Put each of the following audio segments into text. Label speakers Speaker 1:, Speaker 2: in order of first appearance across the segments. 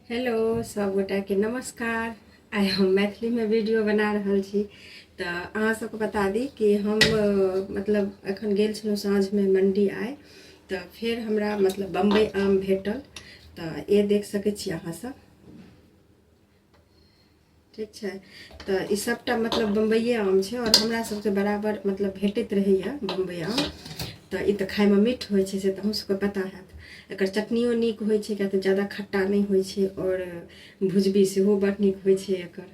Speaker 1: hello सब गोटा के नमस्कार आइ हम मैथिली में वीडियो बना रहल छी तऽ अहाँ सबके बता दी कि हम अ, मतलब एखन गेल छलहुँ साँझमे मण्डी आइ तऽ फेर हमरा मतलब बम्बई आम भेटल तऽ ये देख सकै छी अहाँ सब ठीक छै तऽ ई सभटा मतलब बम्बइए आम छै आओर हमरा सभके बराबर मतलब भेटैत रहैए बम्बइ आम तऽ ई तऽ खाइमे मीठ होइ छै से तऽ अहूँसभके पता हैत एकर चटनियो नीक होइ छै किएक तऽ ज्यादा खट्टा नहि होइ छै आओर भुजबी सेहो बड़ नीक होइ छै एकर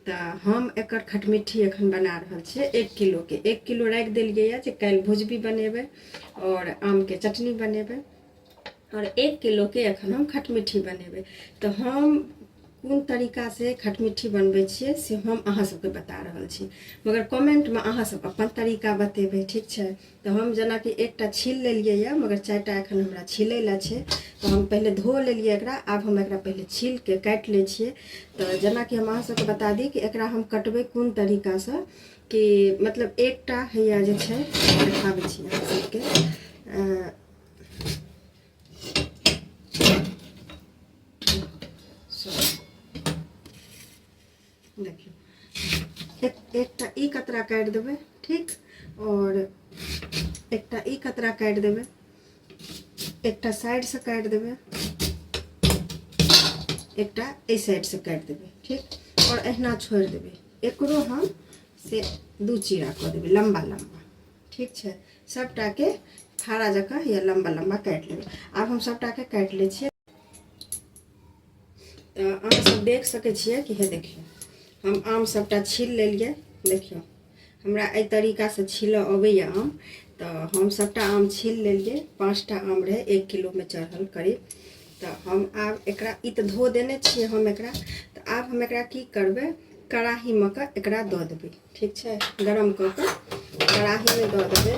Speaker 1: तऽ हम एकर खटमिट्ठी एखन बना रहल छियै एक किलोके एक किलो राखि देलियैए जे काल्हि भुजबी बनेबै आओर आमके चटनी बनेबै आओर एक किलोके एखन हम खटमिट्ठी बनेबै तऽ हम कोन तरीकासँ खटमिट्ठी बनबै छियै से हम अहाँ सबके बता रहल छी मगर कमेंटमे अहाँ सब अपन तरीका बतेबै ठीक छै तऽ हम जेनाकि एकटा छील लेलियै यऽ मगर चारिटा एखन हमरा छिलै लए छै तऽ हम पहिले धो लेलियै एकरा आब हम एकरा पहिले छीलके काटि लै छियै तऽ जेनाकि हम अहाँ सबके बता दी कि एकरा हम कटबै कोन तरीकासँ कि मतलब एकटा हैया जे छै देखाबै छी अहाँ सबके देखियौ एकटा ई कतरा काटि देबै ठीक आओर एकटा ई कतरा काटि देबै एकटा साइडसँ काटि देबै एकटा एहि साइडसँ काटि देबै ठीक आओर अहिना छोड़ि देबै एकरो हम से दू चीरा कऽ देबै लम्बा लम्बा ठीक छै सभटाके फाड़ा जकाँ या लम्बा लम्बा काटि लेबै आब हम सभटाके काटि लै छियै तऽ अहाँसभ देख सकै छियै कि हे देखियौ हम आम सभटा छील लेलियै देखियौ हमरा एहि तरीकासँ छीलऽ अबैए आम तऽ हम सभटा आम छील लेलियै पाँचटा आम रहै एक किलोमे चढ़ल करीब तऽ हम आब एकरा ई तऽ धो देने छियै हम एकरा तऽ आब हम एकरा की करबै कड़ाहीमे कऽ एकरा दऽ देबै ठीक छै गरम कऽ कऽ कड़ाहीमे दऽ देबै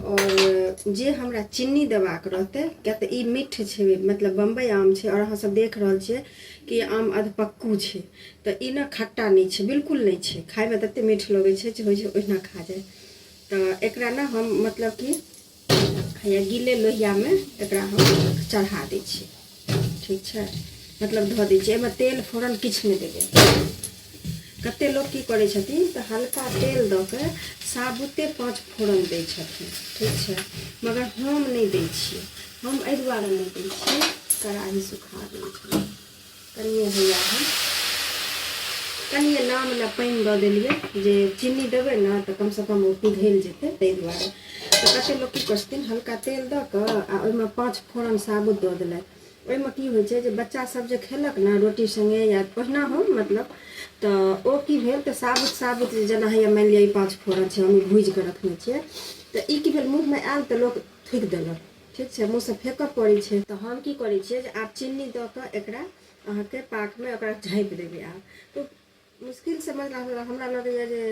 Speaker 1: आओर जे हमरा चीनी देबाक रहतै किएक तऽ ई मीठ छै मतलब बम्बइ आम छै आओर अहाँसभ देख रहल छियै कि आम अधपक्कू छै तऽ ई ने खट्टा नहि छै बिल्कुल नहि छै खायमे ततेक मीठ लगै छै जे होइ छै ओहिना खा जाय तऽ एकरा ने हम मतलब कि हैया गिले लोहियामे एकरा हम चढ़ा दै छी ठीक छै मतलब धऽ दै छी एहिमे तेल फोरन किछु नहि देबै कतेक लोक की करै छथिन तऽ हल्का तेल दऽ कऽ साबुते पाँच फोरन दै छथिन ठीक छै मगर हम नहि दै छियै हम एहि दुआरे नहि दै छियै कड़ाही सुखा दै छियै कनिए हैया है कनिए नाम लए पानि दऽ देलियै जे चीनी देबै ने तऽ कमसँ कम ओ पिघलि जेतै ताहि दुआरे तऽ कते लोक की करै छथिन हल्का तेल दऽ कऽ आ ओहिमे पाँच फोरन साबुत दऽ देलथि ओहिमे की होइ छै जे बच्चा सब जे खेलक ने रोटी संगे या पहिना हो मतलब तऽ ओ की भेल तऽ साबुत साबुत जे जेना होइया मानि लिअ ई पाँच फोरन छै हम ई भूजि कऽ रखने छियै तऽ ई की भेल मुँहमे आयल तऽ लोक थूकि देलक ठीक छै मुँहसँ फेकऽ पड़ै छै तऽ हम की करै छियै जे आब चिन्नी दऽ कऽ एकरा अहाँके पाकमे ओकरा झाँपि देबै आब तऽ मुश्किलसँ मतलब हमरा लगैए जे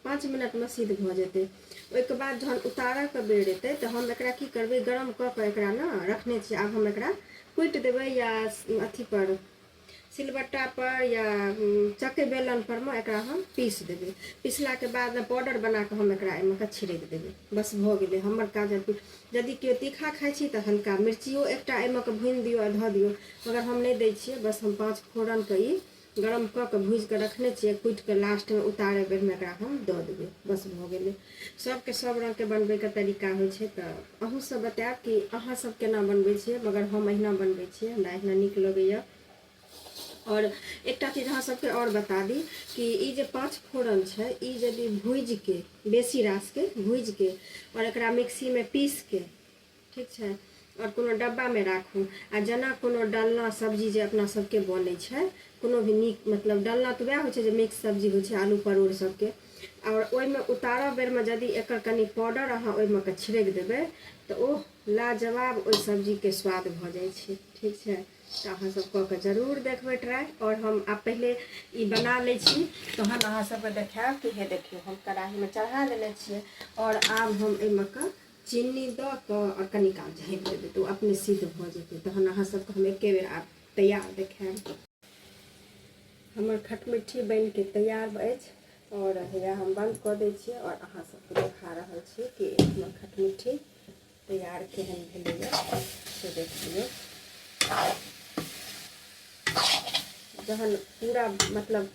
Speaker 1: पाँच मिनटमे सिद्ध भऽ जेतै ओहिके बाद जहन उतारऽके बेर एतै तऽ हम एकरा की करबै गरम कऽ कऽ एकरा ने रखने छियै आब हम एकरा कुटि देबै या अथीपर सिलबट्टा पर या चक्के बेलन पर मे एकरा हम पीस देबै पिसला के बाद ने पाउडर बना के हम एकरा एहिमे के छिड़क देबै बस भऽ गेलै हमर काज यदि केओ तीखा खाइ छी तऽ हल्का मिर्चियो एकटा एहिमे के भूनि दियौ आ धऽ दियौ मगर हम नहि दै छियै बस हम पाँच फोरन के ई गरम कऽ के भूजि के रखने छियै कुटि के लास्ट मे उतारे बेर मे एकरा हम दऽ देबै बस भऽ गेलै सबके सब रंग के बनबे के तरीका होइ छै तऽ अहू सब बतायब कि अहाँ सब केना बनबै छियै मगर हम अहिना बनबै छियै हमरा अहिना नीक लगैया और एकटा चीज अहाँ सबके और बता दी कि ई जे पाँच फोरन छै ई यदि भूजि के बेसी रास के भूजि के और एकरा मिक्सी में पीस के ठीक छै आओर कोनो डब्बामे राखू आ जेना कोनो डालना सब्जी जे अपना सभके बनै छै कोनो भी नीक मतलब डालना तऽ उएह होइ छै जे मिक्स सब्जी होइ छै आलू परोड़ सभके आओर ओहिमे उतारय बेरमे यदि एकर कनि पाउडर अहाँ ओहिमे कऽ छिड़कि देबै तऽ ओ लाजवाब ओहि सब्जीके स्वाद भऽ जाइ छै ठीक छै तऽ अहाँसभ कऽ कऽ जरूर देखबै ट्राइ आओर हम आब पहिले ई बना लै छी तहन अहाँसभके देखायब कि हे देखियौ हम कड़ाहीमे चढ़ा देने छियै आओर आब हम एहिमे कऽ चीनी दऽ कऽ आओर कनि काल झाँपि देबै तऽ ओ अपने सिद्ध भऽ जेतै तहन अहाँ सभके हम एके बेर आब तैयार देखायब हमर खटमिट्ठी बनि कऽ तैयार अछि आओर हैया हम बन्द कऽ दै छियै आओर अहाँ सभके देखा रहल छी कि हमर खटमिट्ठी तैयार केहन भेलैए से देख लियौ जहन पूरा मतलब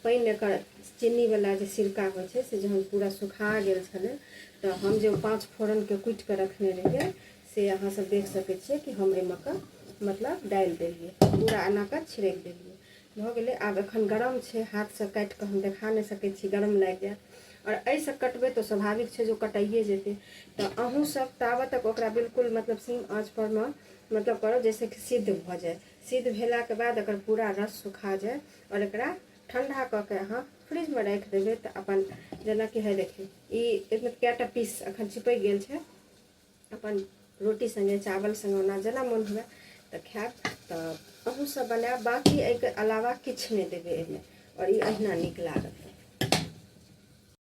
Speaker 1: पानि एकर चीनीवला जे सिरका होइ छै से जहन पूरा सुखा गेल छलै तऽ हम जे पाँच फोरनके कुटि कऽ रखने रहियै से अहाँसभ देख सकै छियै कि हम एहिमे कऽ मतलब डालि देलियै पूरा एना कऽ छिड़कि देलियै भऽ गेलै आब एखन गरम छै हाथसँ काटि कऽ हम देखा नहि सकै छी गरम लागि जायत आओर एहिसँ कटबै तऽ स्वाभाविक छै जे कटाइए जेतै तऽ अहूँसभ ताबत तक ओकरा बिल्कुल मतलब सीम आँचपर मे मतलब करब जाहिसँ कि सिद्ध भऽ जाय सिद्ध भेलाके बाद एकर पूरा रस सुखा जाय आओर एकरा ठण्डा कऽ के अहाँ फ्रिजमे राखि देबै तऽ अपन जेनाकि है देखियौ ई एहिमे कएटा पीस अखन चिपकि गेल छै अपन रोटी सङ्गे चावल सङ्गे ओना जेना मोन हुए तऽ खायब तऽ अहूँ सब बनायब बाकी एहिके अलावा किछु नहि देबै एहिमे आओर ई अहिना नीक लागत